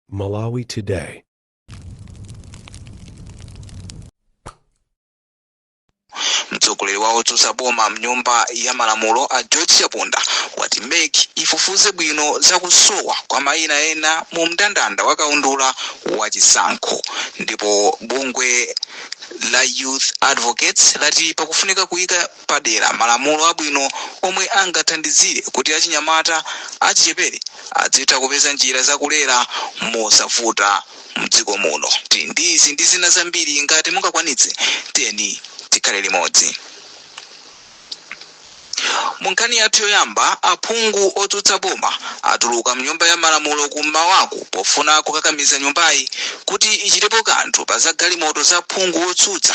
Malawi Today. mtsogoleri wa otsutsa boma mnyumba ya malamulo a george chaponda wati mec ifufuze bwino za kusowa kwa mayina ena mu mndandanda wa kaundula wa chisankho ndipo bungwe la youth advocates lati pakufunika kuyika padera malamulo abwino omwe angathandizire kuti achinyamata achichepere adzitha kupeza njira za kulera mosavuta mdziko muno. Ndi izi ndi zina zambiri ngati mungakwanitse tiyeni tikhale limodzi. Mu nkhani yathu yoyamba, aphungu otsutsa boma atuluka mnyumba ya malamulo ku m'mawaku pofuna kukakamiza nyumbayi kuti ichitepo kanthu pa za galimoto za phungu wotsutsa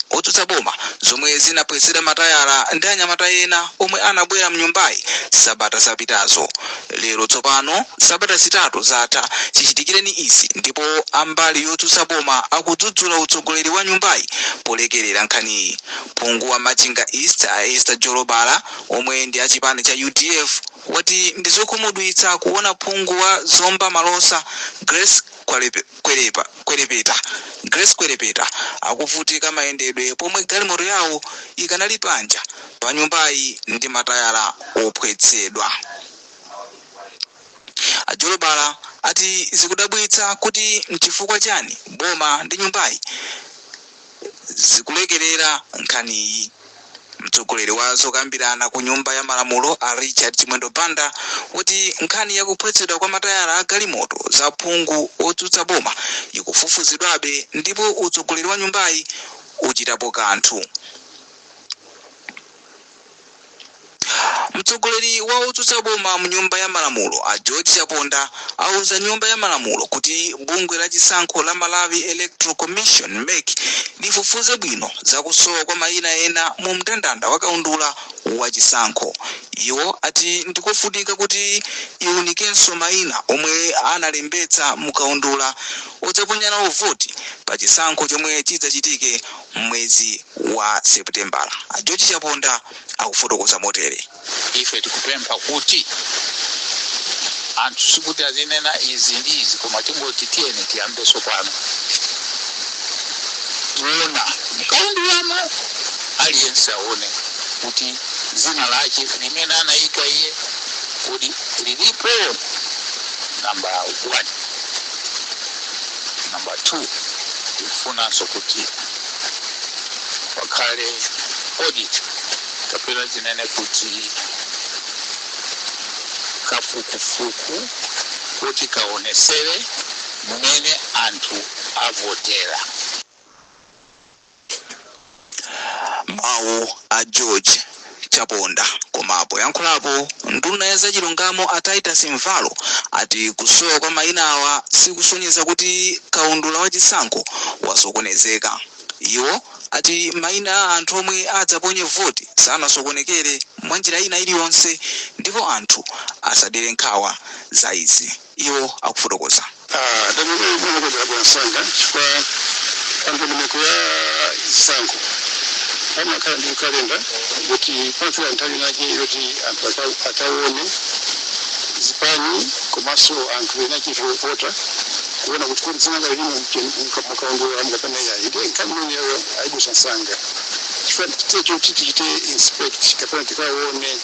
otsutsa boma zomwe zinaphwetsedwa matayala ndi anyamata ena omwe anabwera mnyumbayi sabata zapitazo. Lero tsopano sabata zitatu zatha chichitikireni izi ndipo a mbali yotsutsa boma akudzudzula utsogoleri wa nyumbayi polekerera nkhaniyi. Phungu wa Machinga East a Esther Jolobala omwe ndi a chipani cha udf wati ndi zokhumudwitsa kuona phungu wa Zomba Malosa Grace Kwalebe. Kwerepa, Kwerepeta, Grace Kwerepeta, akuvutika mayendedwe pomwe galimoto yawo ikanali panja pa nyumbayi ndi matayala ophwetsedwa. A Jolobala ati zikudabwitsa kuti mchifukwa chani boma ndi nyumbayi zikulekerera nkhaniyi. Mtsogoleri wa zokambirana ku Nyumba ya Malamulo a Richard Chimwendo Banda wati nkhani ya kuphwetsedwa kwa matayala a galimoto za phungu wotsutsa boma ikufufuzidwabe ndipo utsogoleri wa nyumbayi uchitapo kanthu. Mtsogoleri wa otsutsa boma mu nyumba ya malamulo a George Chaponda auza nyumba ya malamulo kuti bungwe la chisankho la Malawi Electoral Commission, mec, lifufuze bwino za kusowa kwa maina ena mu mndandanda wa kaundula wa chisankho. Iwo ati ndikofunika kuti iunikenso maina omwe analembetsa mu kaundula odzaponya nawo voti pa chisankho chomwe chidzachitike m'mwezi wa Seputembala, a George Chaponda akufotokoza motere. Ife tikupempha kuti anthu sikuti azinena izi ndi izi koma tingoti tiyeni tiyambenso pano kuona mkaundulamo aliyense aone kuti dzina lake limene anayika iye kodi lilipo namba 1 namba 2 tifunanso kuti pakhale audit kapena tinene kuti kafukufuku kuti kaonesere mmene anthu avotera. Mawu a George Chaponda. Koma poyankhulapo, nduna ya zachilungamo a Titus Mvalo ati kusowa kwa mayinawa sikusonyeza kuti kaundula wa chisankho wasokonezeka. Iwo ati mayina a anthu omwe adzaponye voti sanasokonekere mwa njira ina iliyonse ndipo anthu asadere nkhawa za izi. iwo akufotokoza. Ndandandayi imakonzedwa mwansanga chifukwa pa ndondomeko ya zisankho pamakhala ndi kalenda kuti pafika nthawi inayake yoti anthu aka- akaone zipani komanso anthu ena chete ovota kuona kuti kodi dzina lake limo mukaundula mukapena yayi ndiye nkhani imeneyo ayidutsa msanga chifukwa cha chiti choti tichite inspect kapena tikaone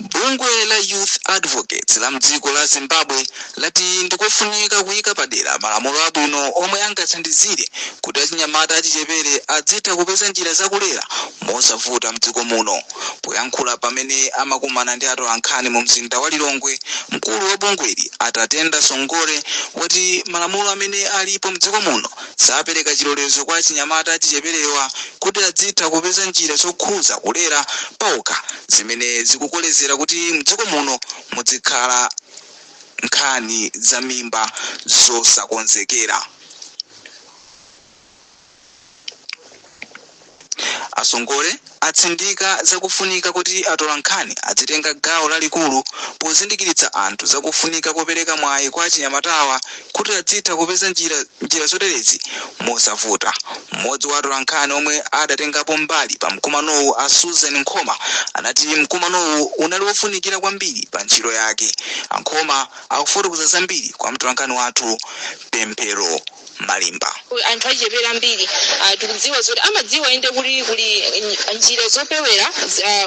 Bungwe la Youth Advocates la mdziko la Zimbabwe lati ndikofunika kuyika padera malamulo abwino omwe angathandizire kuti achinyamata achichepere adzitha kupeza njira zakulera mosavuta mdziko muno. Poyankhula pamene amakumana ndi atolankhani mu mzinda wa Lilongwe, mkulu wa bungweli a Tatenda Songore wati malamulo amene alipo mdziko muno Sapereka chilolezo kwa achinyamata achicheperewa kuti adzitha kupeza njira zokhuza kulera paokha zimene zikukolezera kuti mdziko muno mudzikhala nkhani za mimba zosakonzekera. A Songole atsindika za kufunika kuti atolankhani adzitenga gawo lalikulu pozindikiritsa anthu za kufunika kopereka mwayi kwa achinyamatawa kuti adzitha kupeza njira zoterezi mosavuta. M'modzi wa atolankhani omwe adatengapo mbali pa mkumanowu a Susan Nkhoma anati mkumanowu unali wofunikira kwambiri pa ntchito yake. A Nkhoma akufotokoza zambiri kwa mtolankhani wathu Pemphero Malimba. Anthu achichepere ambiri tikudziwa zoti amadziwa inde kuti kuli njira zopewera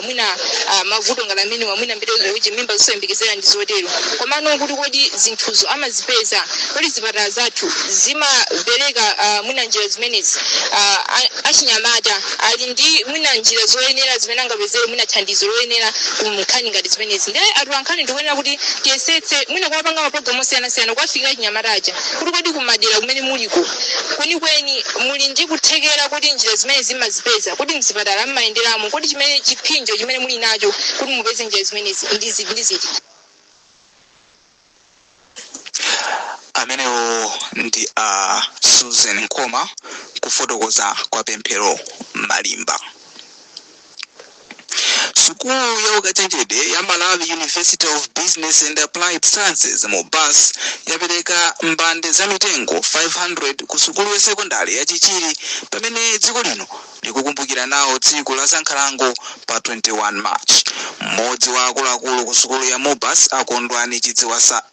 mwina mavuto ngati amenewa mwina mbiri yoti mimba zosayembekezera ndi zotero komano kuti kodi zinthuzo amazipeza kodi zipatala zathu zimapereka mwina njira zimenezi achinyamata ali ndi mwina njira zoyenera zimene angapezere mwina thandizo loyenera ku nkhani ngati zimenezi ndiye atolankhani tikuyenera kuti tiyesetse mwina kuwapanga mapulogalamu osiyanasiyana kuwafikira achinyamata aja kuti kodi kumadera kumene muliko kwenikweni muli ndi kuthekera kuti njira zimene zimazipeza kuti mzipatala mmayenderamo kodi chimene chiphinjo chimene muli nacho kuti mupeze njira zimenezi ndi zi- ndi ziti amenewo ndi a susan nkhoma kufotokoza kwa pemphero malimba Sukulu ya ukachenjede ya Malawi University of Business and Applied Sciences, Mubas, yapereka mbande za mitengo 500 ku sukulu ya sekondale ya Chichiri pamene dziko lino likukumbukira nawo tsiku la zankhalango pa 21 March. Mmodzi wa akuluakulu ku sukulu ya Mubas, a Kondwani Chidziwisa,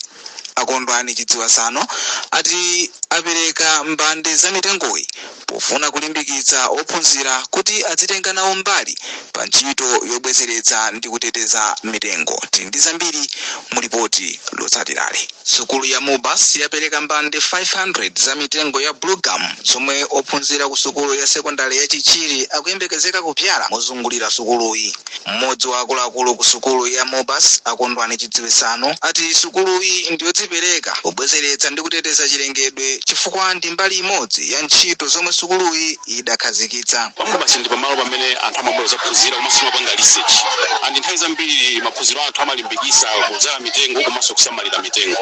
A Kondwani Chidziwisano ati apereka mbande za mitengoyi pofuna kulimbikitsa ophunzira kuti adzitenga nawo mbali pa ntchito yobwezeretsa ndi kuteteza mitengo. Tili ndi zambiri mu lipoti lotsatirali. Sukulu ya Mubas yapereka mbande 500 za mitengo ya bluegum zomwe ophunzira ku sukulu ya sekondale ya Chichiri akuyembekezeka kubzala mozungulira sukuluyi. Mmodzi wa akuluakulu ku sukulu ya Mubas, a Kondwani Chidziwisano, ati sukuluyi ndiyodzipereka pobwezeretsa ndi kuteteza chilengedwe chifukwa ndi mbali imodzi ya ntchito zomwe sukuluyi idakhazikitsa. Pa Mubas ndi pamalo pamene anthu amabwera kudzaphunzira komanso timapanga research and nthawi zambiri maphunziro athu amalimbikitsa kudzala mitengo komanso kusamalira mitengo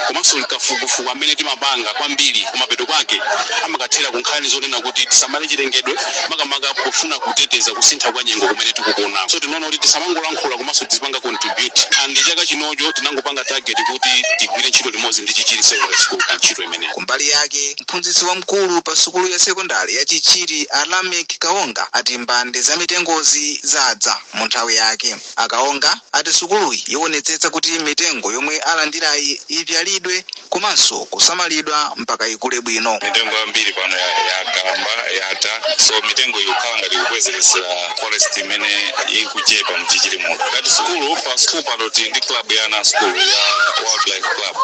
komanso kafukufuku amene timapanga kwambiri kumapeto kwake amakathera ku nkhani zonena kuti tisamale chilengedwe. makamaka pofuna kuteteza kusintha kwa nyengo kumene tikukuona. So tinaona kuti tisamangolankhula komanso tizipanga contribute and chaka chinocho tinangopanga target kuti tigwire ntchito limodzi ndi Chichiri Secondary School pa ntchito imeneyi. Kumbali yake, mphunzitsi wamkulu pa sukulu ya sekondari ya Chichiri a Lameck Kaonga ati mbande za mitengozi zadza mu nthawi yake. A Kaonga ati sukuluyi iwonetsetsa kuti mitengo yomwe alandirayi ibzalidwe komanso kusamalidwa mpaka ikule bwino. Mitengo yambiri pano yakalamba, yatha so mitengo ikukhala ngati ikubwezeretsera forest imene ikuchepa mchichiri muno. Ngati sukulu, pa sukulu pano tili ndi club ya ana a sukulu ya Wildlife Club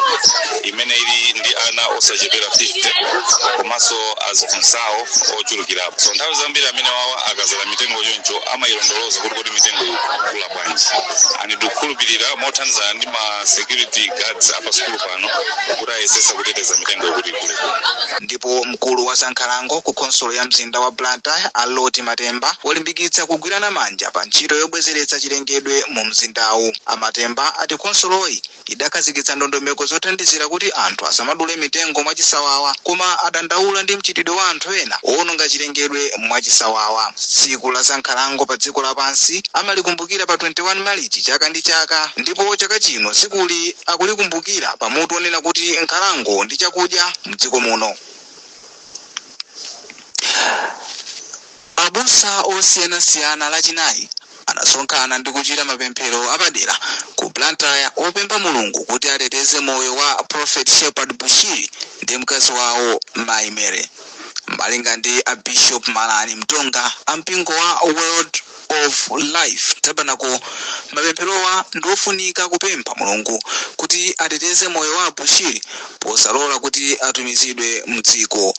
imene ili ndi ana osachepera 50 komanso aziphunzitsi awo ochulukirapo. So nthawi zambiri amenewawa akazala mitengo choncho amayilondoloza kuti. kuti mitengo ikukula bwanji and tikukhulupirira mothandizana ndi ma security guards a pa sukulu pano kuti ayesesa kuteteza mitengo kuti ikule ndipo mkulu wa zankhalango ku khonsolo ya mzinda wa blantyre a loti matemba walimbikitsa kugwirana manja pa ntchito yobwezeretsa chilengedwe mu mzindawu a matemba ati khonsoloyi idakhazikitsa ndondomeko zothandizira kuti anthu asamadule mitengo mwachisawawa koma adandaula ndi mchitidwe wa anthu ena owononga chilengedwe mwachisawawa. Tsiku la za nkhalango pa dziko lapansi amalikumbukira pa 21 Malichi chaka ndi chaka ndipo chaka chino tsikuli akulikumbukira pa mutu onena kuti nkhalango ndi chakudya mdziko muno. Abusa osiyanasiyana Lachinayi anasonkhana ndi kuchita mapemphero apadera ku Blantyre opempha Mulungu kuti ateteze moyo wa Prophet Shepherd Bushiri ndi mkazi wawo Mayi Mary. Malinga ndi a Bishop Malani Mtonga a mpingo wa World of Life Tabernacle, mapempherowa ndi ofunika kupempha Mulungu kuti ateteze moyo wa a Bushiri posalola kuti atumizidwe mdziko.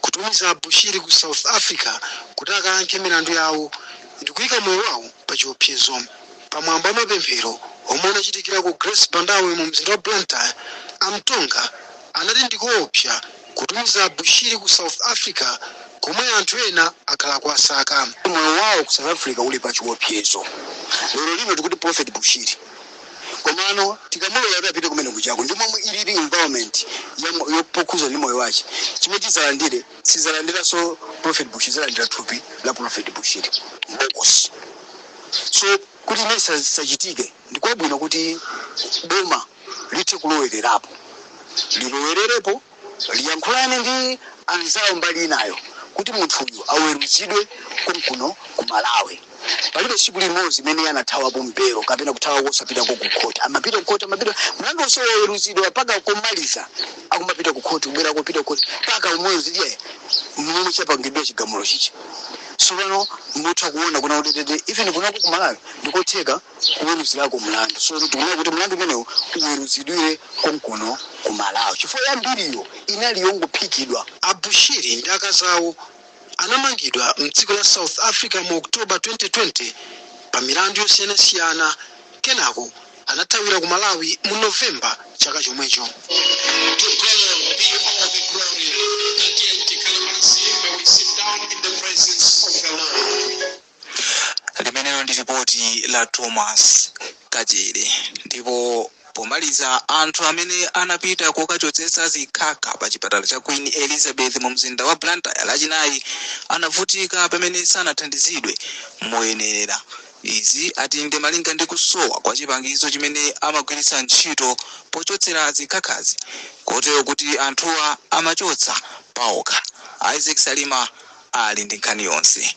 kutumiza Bushiri ku South Africa kuti akayankhe milandu yawo ndikuyika moyo wawo pa chiopsezo. Pa mwambo wa mapemphero omwe anachitikira ku Grace Bandawe mu mzinda wa Blantyre, a Mtonga anati ndikoopsa kutumiza Bushiri ku South Africa komwe anthu ena akhala akuwasaka. Moyo wawo ku South Africa uli pa chiopsezo. Lero lino tikuti Prophet Bushiri. komano tikamulola kuti apite kumene kujako ndi momwe ilili environment ya mo- yo- pokhuza ndi moyo wache chimwe tizalandire sizalandiranso prophet bushiri zalandira thupi la prophet bushiri mbokosi so kuti imene sa- sachitike ndikwabwino kuti boma lithe kulowererapo lilowererepo Liyankhulane ndi anzawo mbali inayo kuti munthuyu aweruzidwe konkuno ku Malawi. Palibe tsiku limodzi limene iye anathawapo pa belo kapena kuthawako osapitako ku khoti. Amapita ku khoti, amapita, mlandu onse waweruzidwa mpaka komaliza akumapita ku khoti, kubwerako, kupita ku khoti mpaka umodzi ndiye mmene chapangidwa chigamulo chija. Tsopano mutha kuona kuna udedede even kunoko ku Malawi ndikotheka. kuweruzirako mlandu so tikuona kuti mlandu umenewu uweruzidwire konkuno ku malawi chifukwa yambiriyo inali yongophikidwa A Bushiri ndi akazi awo anamangidwa m'dziko la South Africa mu October 2020 pa milandu yosiyanasiyana kenako anathawira ku Malawi mu November chaka chomwecho. Limenelo ndi lipoti la Thomas Kachere. Ndipo pomaliza anthu amene anapita kokachotsetsa zikhakha pa chipatala cha Queen Elizabeth mu mzinda wa Blantyre lachinayi anavutika pamene sanathandizidwe moyenerera. Izi ati ndi malinga ndi kusowa kwa chipangizo chimene amagwiritsa ntchito pochotsera zikhakhazi kotero kuti anthuwa amachotsa paokha. Isaac Salima ali ndi nkhani yonse.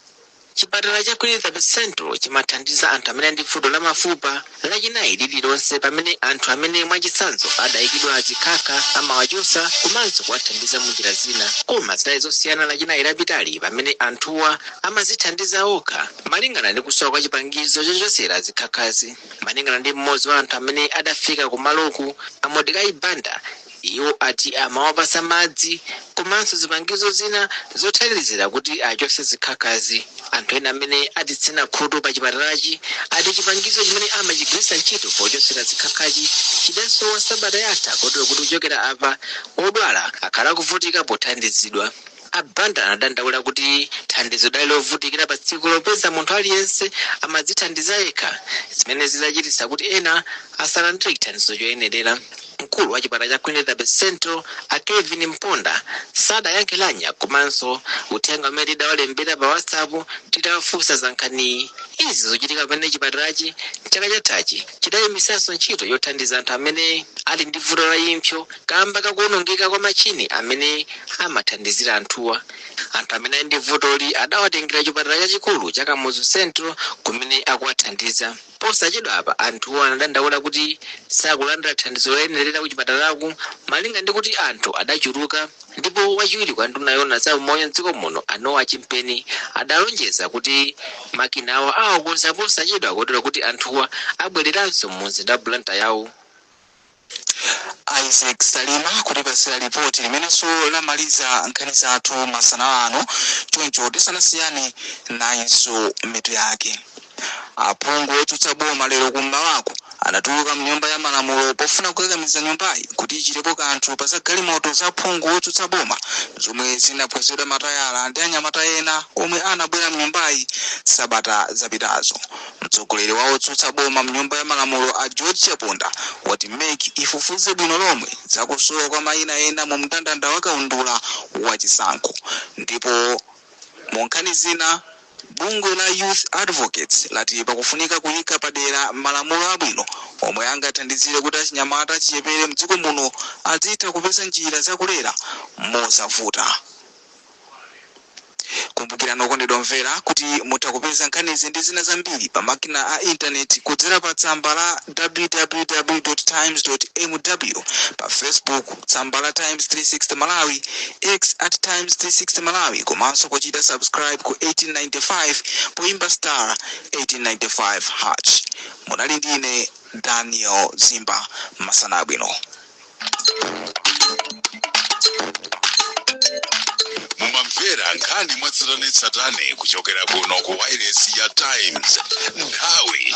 Chipatala cha Queen Elizabeth Central chimathandiza anthu amene ali ndi vuto la mafupa Lachinayi lililonse pamene anthu amene mwachitsanzo adaikidwa zikhakha amawachotsa komanso kuwathandiza munjira zina. Koma zidali zosiyana Lachinayi lapitali pamene anthuwa amadzithandiza okha malingana ndi kusowa kwa chipangizo chochotsera zikhakhazi. Malingana ndi m'modzi wa anthu amene adafika kumaloku, a Modecai Banda, Iwo ati amawapatsa madzi komanso zipangizo zina zothandizira kuti achotse zikhakhazi. Anthu ena amene atitsina khutu pa chipatalachi ati chipangizo chimene amachigwiritsa ntchito pochotsera zikhakhachi chidasowa sabata yatha kotero kuti kuchokera apa, odwala akhala kuvutika pothandizidwa. A Banda anadandaula kuti thandizo lidali lovutikira patsikulo popeza munthu aliyense amadzithandiza yekha zimene zidachititsa kuti ena asalandire chithandizo choyenerera. Mkulu wa chipatala cha Queen Elizabeth Central a Kevin Mponda sadayankhe lamya komanso uthenga umene tidawalembera pa WhatsApp titawafunsa za nkhaniyi. Izi zikuchitika pamene chipatalachi chaka chathachi chidayimitsanso ntchito yothandiza anthu amene ali ndi vuto la impsyo. Kaamba ka kuonongeka kwa matchini amene amathandizira anthuwa, anthu amene ali ndi vutoli adawatengera chipatala chachikulu cha Kamuzu Central kumene akuwathandiza. Posachedwa apa anthuwa anadandaula kuti sakulandira thandizo loyenerera kuchipatalaku malinga ndi kuti anthu adachuluka ndipo wachiwiri kwa nduna yoona za umoyo m'dziko muno a Noah Chimpeni adalonjeza kuti makinawa awakonza posachedwa kotero kuti anthuwa abwereranso mu mzinda wa Blantyre. Isaac Salima kutipatsira lipoti limenenso lamaliza nkhani zathu masana ano, choncho tisanasiyane nayinso mitu yake. Aphungu otsutsa boma lero kummawaku anatuluka mnyumba ya malamulo pofuna kukakamiza nyumbayi kuti ichitepo kanthu pa za galimoto za phungu wotsutsa boma zomwe zinaphwetsedwa matayala ndi anyamata ena omwe anabwera mnyumbayi sabata zapitazo. Mtsogoleri wa otsutsa boma mnyumba ya malamulo a George Chaponda wati MEC ifufuze bwino lomwe za kusowa kwa mayina ena mu mndandanda wa kaundula wa chisankho ndipo mu nkhani zina bungwe la Youth Advocates lati pakufunika kuyika padera malamulo abwino omwe angathandizire kuti achinyamata achichepere mdziko muno azitha kupeza njira za kulera mosavuta. Kumbukirani okondedwa omvera kuti mutha kupeza nkhanizi ndi zina zambiri pa makina a intaneti kudzera pa tsamba la www times mw pa facebook tsamba la times 360 malawi x at times 360 malawi komanso kuchita subscribe ku 1895 poimba star 1895 hash munali ndi ine daniel zimba masana abwino mumamvera nkhani mwatsatanetsatane kuchokera kuno ku wailesi ya times nthawi